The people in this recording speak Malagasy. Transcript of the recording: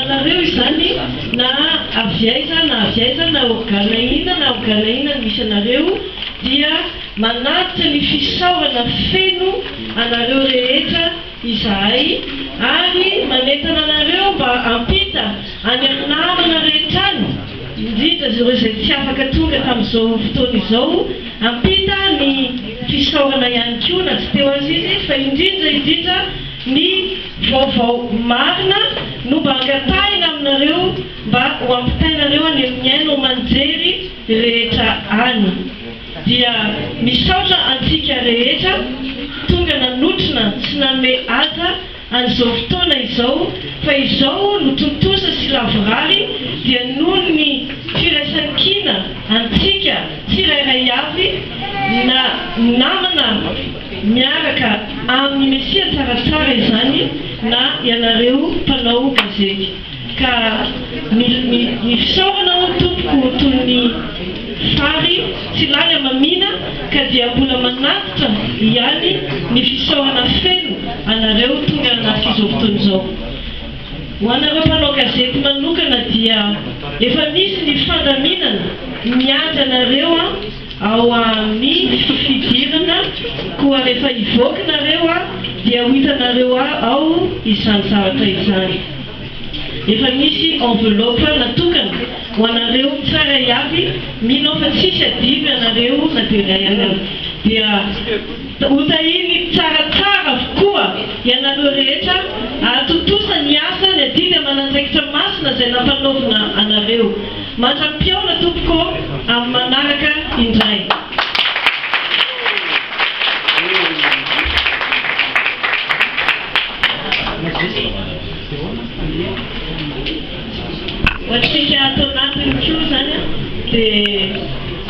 Anareo izany na avy aiza na avy aiza na organa inona na organa inona ny misy anareo dia manatitra ny fisaorana feno anareo rehetra izahay ary manentana anareo mba hampita any amin'ny namana rehetra any indrindra azy ireo izay tsy afaka tonga tamin'izao fotoana izao hampita ny fisaorana ihany koa na tsy teo aza izy fa indrindra indrindra Ny vaovao marina no mba angatahina aminareo mba ho ampitainareo any amin'ny haino aman-jery rehetra any. Dia misaotra antsika rehetra tonga nanotrona sy nanome haja an'izao fotoana izao fa izao no tontosa sy lavorary dia noho ny firaisan-kina antsika tsirairay avy na namana miaraka amin'ny Mesia tsaratsara izany na ianareo mpanao gazety ka ny ny fisaorana hono tompoko toy ny fary tsy lany amamina ka dia mbola manatitra ihany ny fisaorana feno anareo tonga an'nafizao fotoana izao ho anareo mpanao gazety manokana dia efa misy ny fandaminana miandry anareo Ao amin ny fidirana koa rehefa hivoaka nareo a dia ho hitanareo a ao izany zavatra izany. Efa misy enveloppe natokana ho anareo tsara iaby mino aho fa tsisy adidy anareo na dia iray areo dia Hotahiny tsaratsara avokoa ianareo rehetra hahatontosa ny asa ny adidy aman'andraikitra masina izay nampanaovina anareo. Mandra-pihaona tompoko amin'ny manaraka indray. Ho antsika ato anatiny koa izany dia.